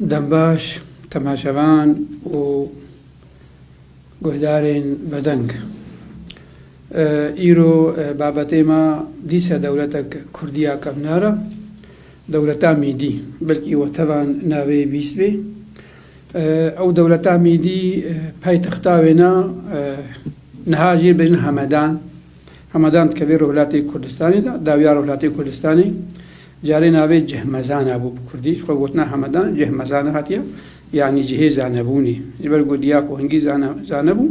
Dembaş, temaşevan û guhdarên vedeng. Îro babetê ma dîse dewletek Kurdiya kevnar e. Dewleta Mîdî. Belkî we tevan navê bîstbê. Ew dewleta Mîdî paytexta wê ne niha jê bêjin Hemedan. Hemedan dikeve Rojhilatê Kurdistanê de, dawiya Rojhilatê Kurdistanê. Carê navê Cihmezana bû bi kurdî ji xwe gotina Hemedan Cihmezana hatiye yanî cihê zanebûnê. Ji ber ku diya ku hingî zane zanebû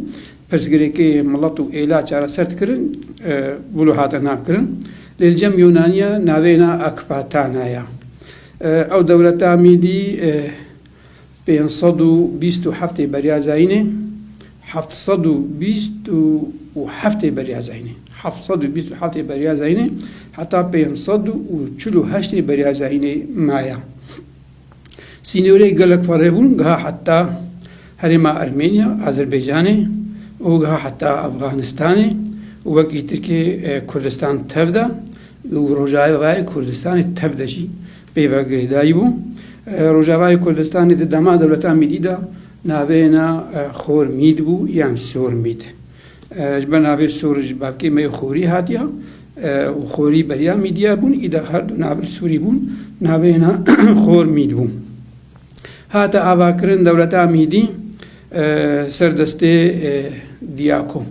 pirsgirêkê milet û êla çareser dikirin wilo hate navkirin. Lê li cem Yûnaniya navê na Akpatana ya. Ew dewleta Mîdî pênc sed û bîst û heftê beriya zayînê, heft sed û bîst û heftê beriya zayînê, heft sed û bîst û heftê beriya zayînê heta pênc sed û çil û heştê beriya zayînê maye. Sînorê gelek ferê bû geha heta herêma Ermeniya, Azerbaycanê û geha heta Afganistanê û wekî Tirkiyê Kurdistan tev de û Rojavayê Kurdistanê tev de jî Peyva Geydayî bû. Rojavayê Kurdistanê di dema dewleta mîdî de navêna Xor Mîd bû yan Sor Mîd. Ji ber navê Sor ji bavkê me yê Xorî hatiye û Xorî beriya Mîdîya bûn, îde her du navir Sorî bûn, navêna Xor Mîd bû. Hate avakirin dewleta Mîdî ser destê Diyako.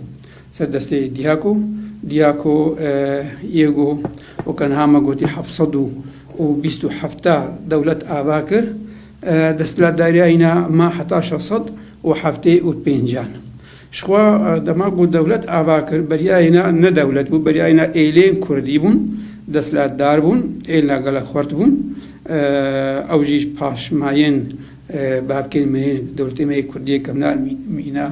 Ser destê Diaco, Diaco Iego Okanhama gotî heft sed û bîst û hefta dewlet ava kir, desthilatdariya îna ma heta şeş sed û heftê û pêncan. Jixwe dema ku dewlet ava kir beriya îna ne dewlet bû, beriya îna êlên kurdî bûn, desthilatdar bûn, êlna gelek xurt bûn. Ew jî paşmayên bavkên me yên, dewletê me yê kurdî yê kevnar mîna.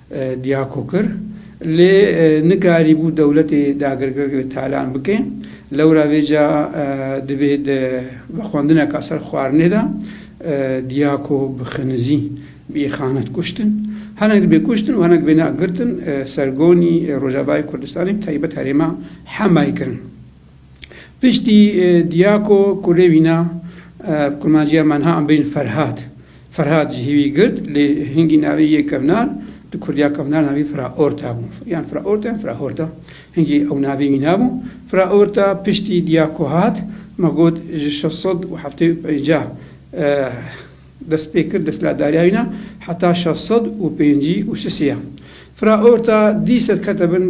Diyako kir, lê nikarîbû dewletê dagirgirg li talan bike. Lewra vê ca divê di vexwendineka ser xwarinê de Diyako bi xinizî bi îxanet kuştin. Hinek dibê kuştin û hinek bêne girtin. Sergonî Rojavayê Kurdistanê bi taybet herêma Hemayê kirin. Piştî Diyako ku rê vîna bi qurmanciya Menha Ambrîn Ferhad, Ferhad ji hîvî girt lê hingî navê yê kevnar di kurdiya kevnar navê Firaorta bû. Yan Firaorta yan Firahorta. Hingî ew navê wî nabû. Firaorta piştî Diyako hat, me got ji şeş sed û heftê û pêncah. dest pê kir desthilatdariya wî na heta şeş sed û pêncî û şişê ya. Fira orta dî ser kete bin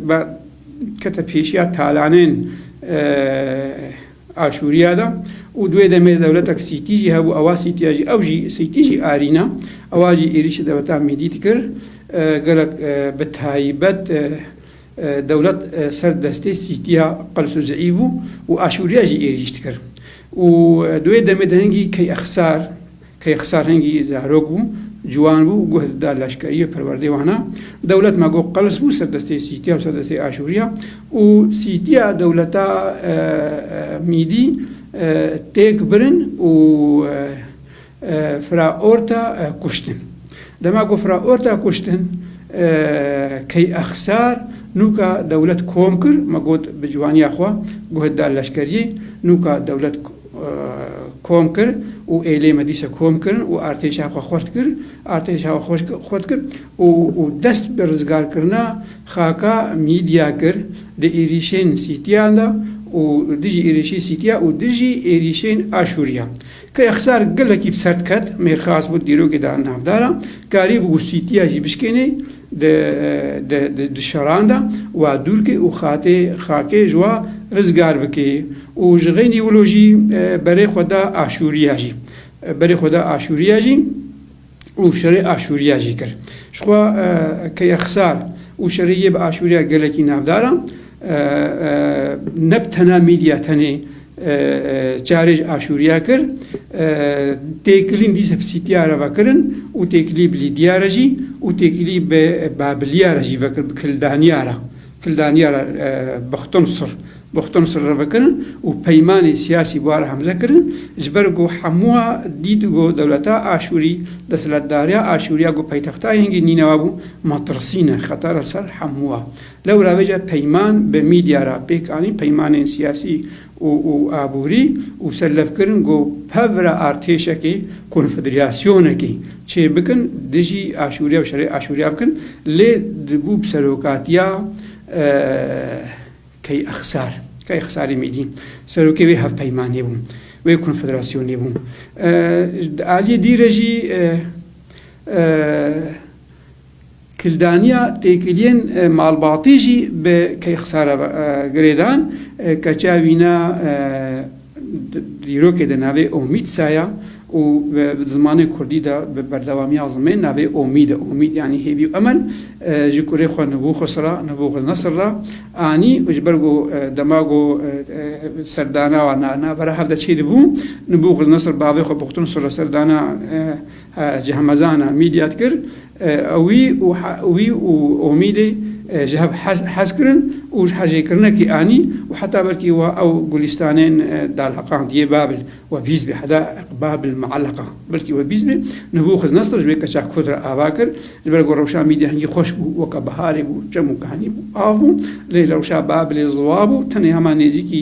be kete pêşiya talanên Aşûriya de û di wê demê de dewletek Sîtî jî hebû ewa Sîtîya jî ew jî Sîtî jî arîna ewa jî êrîşê dewleta Mîdî dikir gelek bi taybet Dewlet ser destê Sîtiya Qels û Zeîv bû û Aşûriya jî êrîş dikir û di wê demê de hingî Keyexisar, Keyexisar hingî zarok bû, ciwan bû, guh dida leşkerî û perwerdeyê wan a. Dewlet ma got Qels bû ser destê Sîtiya û ser destê Aşûriya û Sîtiya dewleta Mîdî têk birin û Fraorta kuştin. Dema ku Fraorta kuştin, Keyexsar nûka dewlet kom kir, me got bi ciwaniya xwe guh da leşkeriyê, nûka dewlet kom kir û êlê me dîsa kom kirin û artêşa xwe xurt kir, artêşa xwe xurt kir û dest bi rizgarkirina xaka Mîdya kir di êrîşên Sîtiyan de û dijî êrîşî Sîtiya û dijî êrîşên Aşûriya. Kêxsar gelekî bi ser diket, mêrxas bû, dîrokê da navdar a, karî bû wusîtiya jî bişkênê di şeran de û dûr kê û xatê xakê ji wa rizgar bikê û ji xênî wilo jî berê xwe da Aşûriya jî. Berê xwe da Aşûriya jî. û şerê Aşûriya jî kir. Jixwe ke Yexsar û şerê yê bi Aşûriya gelekî navdar a, ne bi tena mîdya tenê çarê ji Aşûriya kir, têkilîn dîsa bi Sîtiya re vekirin û têkilî bi Lîdiya re jî û têkilî bi Babiliya re jî vekir, bi Kildaniya re. Kildaniyar Buxtonsr Buxtonsr re vekirin û peymanê siyasî bihar hemze kirin ji ber ku hemûa dît ku dewleta Aşûrî, desthilatdariya Aşûrî ya ku paytexta yengî Nînewa bû ma tirsîne xetar li ser hemûa. Lewra vê ca peyman bi mîdya re pêk anîn peymanên siyasî û aborî û serlevkirin ku pevra artêşekê, konfederasyonekê, çêbikin dijî Aşûriya û şerê Aşûriya bikin lê dibû bi serokatiya Key Exsar, Key Exsarê Mêdî serokê wê hevpeymanê bû, wê konfederasyonê bû. Di aliyê dî re jî Kildaniya têkiliyên malbatî jî bi keyxsa re girê dan. Keça wî ne dîrokê de navê Omîdsa ye û bi zimanê kurdî de bi berdewamiya zimên navê Omîd e. Omîd yanî hêvî û emel. Ji kurê xwe Nibûxus re, Nûbûxdnesr, re anî û ji ber ku dema ku serdana wan navbera hev de çêdibû, Nûbûxdnesr bavê xwe Buxtûnsur re serdana Ji hemezana mîdya dikir. Wî û wî û Omîdê ji hev hez hez kirin û ji hejêkirinekî anî û heta belkî wa ew gulîstanên dalheqand yê Babil we bîst bê heda eq Babil muelleqa belkî we bîst bê. Nibûxiznesr ji wê keça kurd re ava kir. Ji ber ku rewşa mîdya hingî xweş bû, weke biharê bû, çem û kehanî bû, av bû. Lê rewşa Babilê ziwa bû. Tenê hema nêzîkî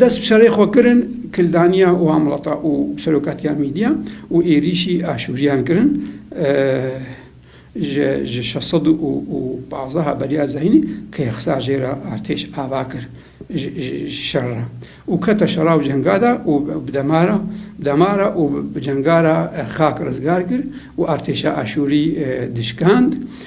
Dest bi şerê xwe kirin kildaniya wan welata û serokatiya mîdiya û êrîşî aşûriyan kirin ji ji şeş sed û û pazdeh beriya zeynî kêxsa jê re artêş ava kir ji ji şer re û kete şera û cenga de û bi dema re bi dema re û bi cenga re xak rizgar kir û artêşa aşûrî dişkand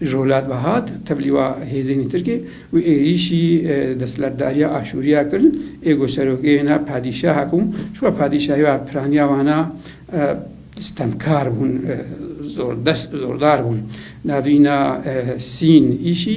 Ji welat ve hat tevlîwa hêzên Tirkê û êrîşî desthilatdariya Aşûriya kir, ê ku serokê wê na padîşah bû, ji ber padîşahî ve piraniya wan a stemkar bûn, zordest, zordar bûn. Navîna Sîn îşî.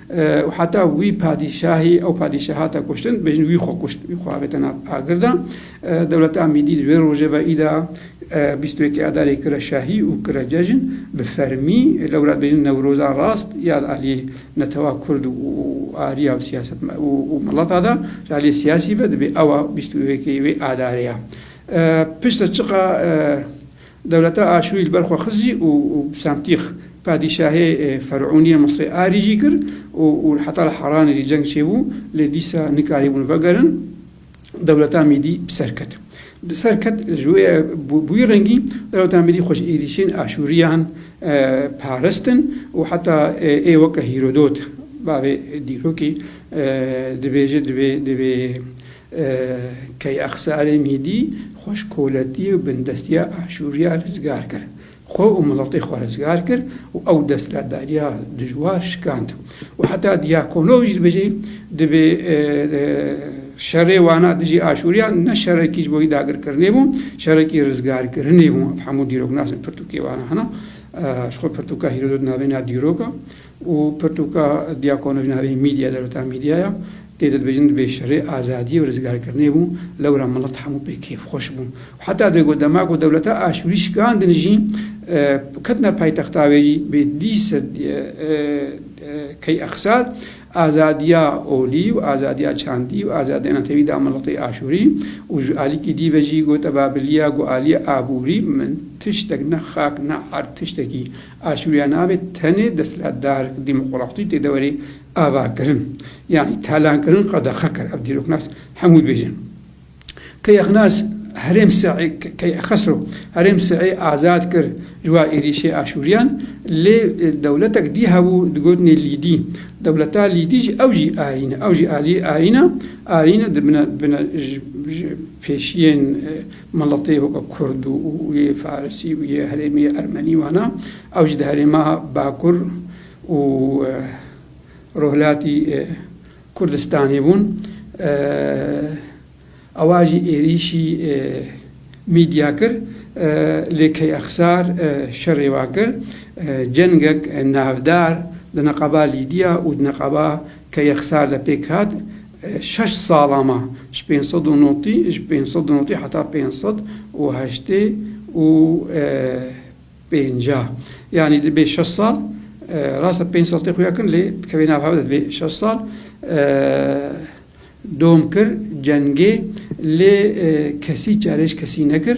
û heta wî padîşahî ew padîşa hate kuştin, dibêjin wî xwe kuşt, wî xwe avêta nav agir de. Dewleta Amîdî di vê rojê ve îda bîst û yekê Adarê kire şahî û kire cejn bi fermî. Lewra dibêjin Newroza rast ya li aliyê netewa Kurd û ariya û siyaset û milata de, ji aliyê siyasî ve dibê ew a bîst û yekê wê adarê ya. Piştre çiqa. Dewleta Aşûrî li ber xwe xizî û Psentîx, padîşahê fer'ûnî ya Misrê arî jî kir û û heta li Haranê jî ceng çêbû, lê dîsa nikarîbûn vegerin. Dewleta Mîdî bi ser ket. Bi ser ket ji wê ye bi wî rengî dewleta Mîdî xwe ji êrîşên Aşûrîyan parastin û heta ê weke Hîrodot, bavê dîrokê dibêje divê divê Keyexsarê Mîdî xwe ji koletiyê û bindestiya Aşûriya rizgar kir. Xwe û miletê xwe rizgar kir û ew destlatdariya dijwar şikand. Û heta Dyakonov jî dibêje, Divê şerê wana dijî Aşûriyan ne şerekî ji bo wî dagirkirinê bû, şerekî rizgarkirinê bû. Ev hemû dîroknas in pirtûkê wana hene. Ji xwe pirtûka Hîrodot navê na dîrok e. û pirtûka Diakono jin herî mîdya dewleta mîdya ya, tê de dibêjin divê şerê azadiyê û rizgarkirinê bû, lewra milet hemû pê kêfxweş bû. Heta divê ku dema ku dewleta Aşûrî şikandin jî ketine paytexta wê jî bê dî sed key exsad, azadiya olî û azadiya çandî û azadiya netewî da miletê Aşûrî û ji alîkî dî ve jî got Babiliya ku aliyê aborî min tiştek ne xak ne erd tiştekî Aşûriya nabê tenê desthilatdar, demokratî tê deverê avakirin yanî talankirin qedexe kir. Ev dîroknas hemû dibêjin. Keyexnas herêm Seî Keyexesro herêm Seî azad kir ji war êrîşê Aşûriyan lê dewletek dî hebû digotinê Lîdî. Dewleta Lîdî jî ew jî Arîn e. Ew jî alî Arîn e. Arîn e dibine dibine ji ji pêşiyên Miletê weke kurd û yê farisî û yê herêmê ermenî wana, ew jî di herêma bakur û rojhilatî Kurdistanê bûn. Ewa jî êrîşî mîdya kir, lê Keyexsar şerê wan kir. Cengek navdar di neqaba Lîdya û di neqaba Keyexsar de pêk hat. Şeş salan me ji pênc sed û notî ji pênc sed û notî heta pênc sed û heştê û pêncî yanî dibê şeş sal rast e pênc sal tê xuya kirin lê dikevê nav hev de dibê şeş sal dom kir cengê lê kesî çarêj kesî nekir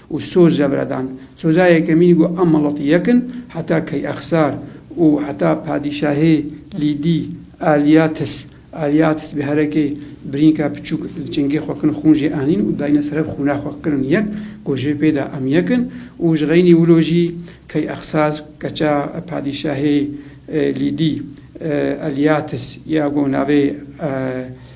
û soze bira dan. Soza yekemîn ku em miletî yek in heta Keyexsar û heta padîşahê Lîdî Alîatis, Aliatis, bi herekê birînka piçûk li çingê xwe kin xûn jê anîn û dayîne ser hev xûna xwe kirin yek ku jê pê de em yek in û ji xeynî wilo jî Keyexsaz keça padîşahê Lîdî Alîatis ya ku navê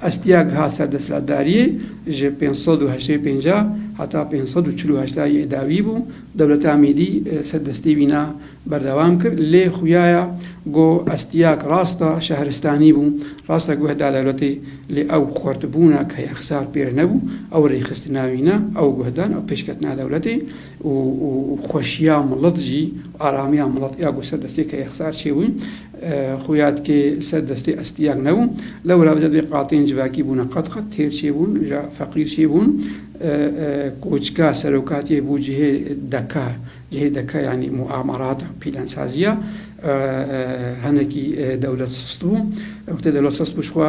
Astiya giha ser desthilatdariyê ji pênc sed û heştê pêncah heta pênc sed û çil û heştayê yê dawî bû. Dewleta Mîdî ser destê wîna berdewam kir. Lê xuyaya go Astiyak rasta şehristanî bû, rasta guh da dewletê lê ew xortibûna ke ya xisar pê re nebû. Ew rêxistina wîna, ew guh dan, ew pêşketina dewletê û xweşiya milet jî, aramiya milet ya go ser destê ke ya xisar çêbû. Xuya dike ser destê estiyek nebû. Lewra bi cedê qatên civakî bûne qet qet, têr çêbûn, ja feqîr çêbûn. Koçka serokatiyê bû cihê deka, cihê deka yanî muamerata, pîlensaziya. Hinekî dewlet sist bû. Wextê dewlet sist bû ji xwe.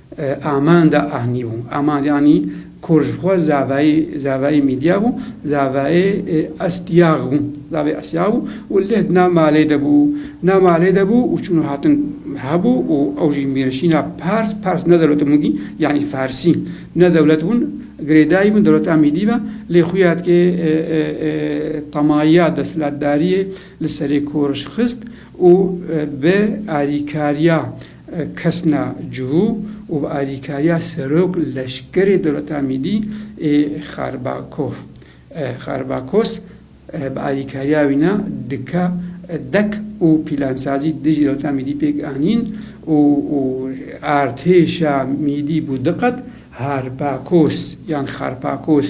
Amanda anî bû. Amanda anî kor ji xwe zavayê zavayê mîdya bû, zavayê estiyag bû. Zavayê estiyag bû û leh di nav malê de bû. Di nav malê de bû û çûn û hatin hebû û ew jî mêrişîna pers, pers ne dewlet bûn dî yanî farsî ne dewlet bûn, girêdayî bûn dewleta mîdî ve lê xuya dikê temaya desthilatdariyê li serê kor xist û bi alîkariya Kesna cihû û bi alîkariya serok leşkerê dewleta mîdî ê Xarbakov, Kharbakos, bi alîkariya wî ne dike dek û pîlansazî dijî dewleta mîdî pêk anîn û artêşa mîdî bû diqet Harpakos yan Xarpakos.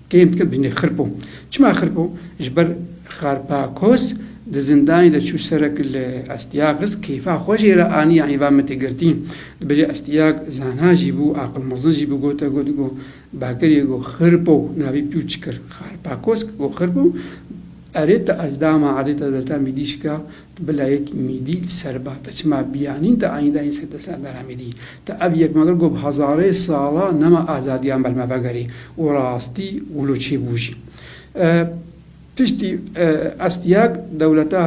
Tên dikin binê xirpo. Çima xirpo? Ji ber Xarpakos di zindanê de çû ser e ku li Astyagis keyfa xwe jê re anî yanî va min tê girtî. Di bilê Astyag zana jî bû, aqil mezin jî bû gote got go bakirî go xirpo navî pîw çi kir? Xarpakos go xirpo erê tu ez dama edê te delta mîdî şika Bila yek mîdî li ser ba te çima biyanîn te anî dayîn ser destê Endara Mîdî. Te ev yek mekir ku bi hezarê sala nema azadiyan ber me vegerî û rastî wilo çi bû jî. Piştî Astiag dewleta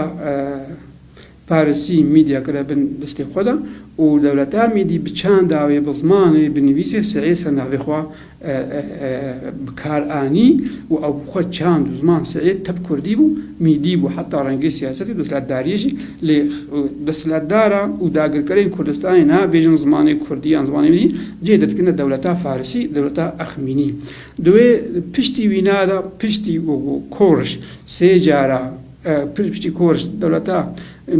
Parisî Mîdîya kire bin destê xwe de û dewleta Mîdî bi çanda wê, bi zimanê, bi nivîsê seyê ser navê xwe bi kar anî û ew xwe çand û ziman Seîd tev kurdî bû, mîdî bû heta rengê siyasetê desthilatdariyê jî lê desthilatdaran û dagirkerên Kurdistanê nabêjin zimanê kurdî yan zimanê mîdî cihê derdikirina dewleta farisî, dewleta Exmînî. Di wê piştî wîna de piştî wekû koriş sê cara piştî koriş dewleta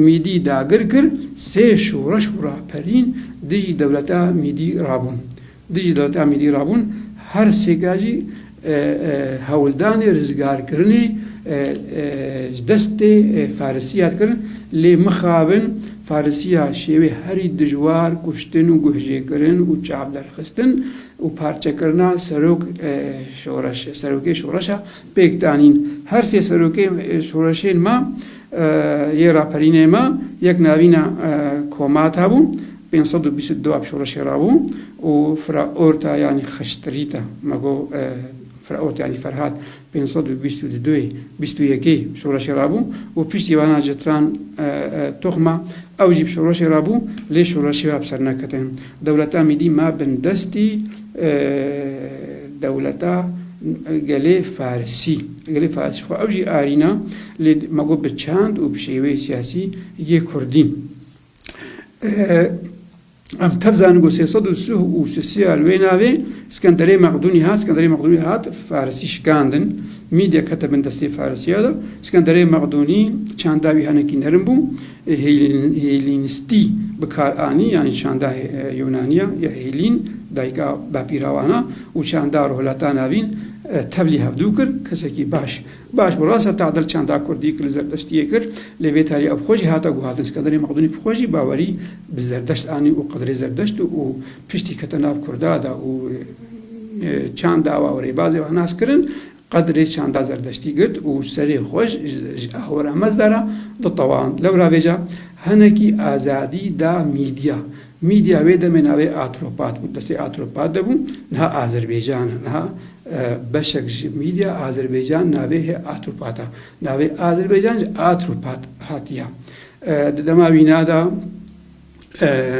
mîdî dagir kir sê şoreş û raperîn dijî dewleta mîdî rabûn. Di Cîlata Mîlî Rabûn her sê gajî hewldanê rizgarkirinê ji destê Farisî hat kirin lê mixabin Farisî ya şêwê herî dijwar kuştin û guhjêkirin û çavderxistin û parçekirina serok şoreş serokê şoreşa Pêkdanîn, Her sê serokên şoreşên me yê raperînê me yek navîna Komat hebû, pênc sed û bîst û du ev şoreşê rabû û fira orta yanî xişt Rîta, me got fira orta yanî Ferhat pênc sed û bîst û du duyê bîst û yekê şoreşê rabû û piştî vana Citran Toxma ew jî bi şoreşê rabû lê şoreşê we bi ser neketine. Dewleta Mîdî me bindestî Dewleta gelê Farsî, gelê Farsî xwe ew jî arîna lê ma got bi çand û bi şêweyê siyasî yê Kurdî. Em tev zanin got sê sed û sih û sisiya li wê navê Skenderê Mexdûnî hat, Skenderê Mexdûnî hat Farsî şikandin, mîdya kete bin destê Farsîya de. Skenderê Mexdûnî çanda wî henekî nerin bû. Hêlînîstî bi kar anî yanî çanda Yûnanî ya ya Hêlîn, dayika bapîrawan a û çanda rohlata navîn tevlî hevdû kir. Kesekî baş baş bi rast e tadil çanda kurdî ki li zerdestiyê kir lê vê tarî ev xwe jî hate guhadin. Skenderê Mexdûnî bi xwe jî bawerî bi zerdeşt anî û qedrê zerdeşt û piştî kete nav kurda de û çanda wa û rêbazê wa nas kirin. Qadirê çanda zerdeştî girt û serê xwe ji ahora mezda re ditewand. Lewravêja hinekî azadî da mîdya. Mîdya wê demê navê Atropat bû, destê Atropat de bû, niha Azerbêcan e. Niha beşek ji mîdya Azerbêcan navê hê Atropat e. Navê Azerbêcan ji Atropat hatiye. Di dema wîna de.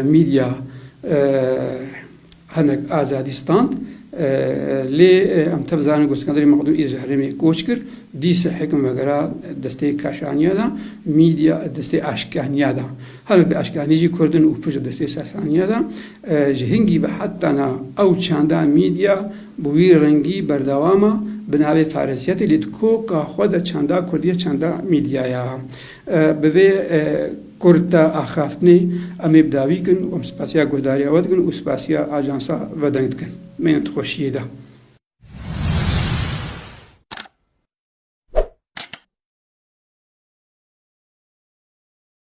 Mîdya hinek azadî stand lê em tev zanin ku Skenderê Mexdûm ê ji herêmê koç kir, dîsa hêkim vegera destê kaşaniya de, mîdya destê aşkaniya de. Hinek di aşkaniyê jî kurd in û pir ji destê sasaniya de. Ji hingî ve heta na ew çanda mîdya bi wî rengî berdewam e, bi navê farisiyetê lê di koka xwe de çanda kurdî ye, çanda mîdyaya. Bi vê kurta axaftinê em ê bi dawî kin û em spasiya guhdariya we dikin û spasiya ajansa Vedeng dikin. Mêne tu xweşiyê de.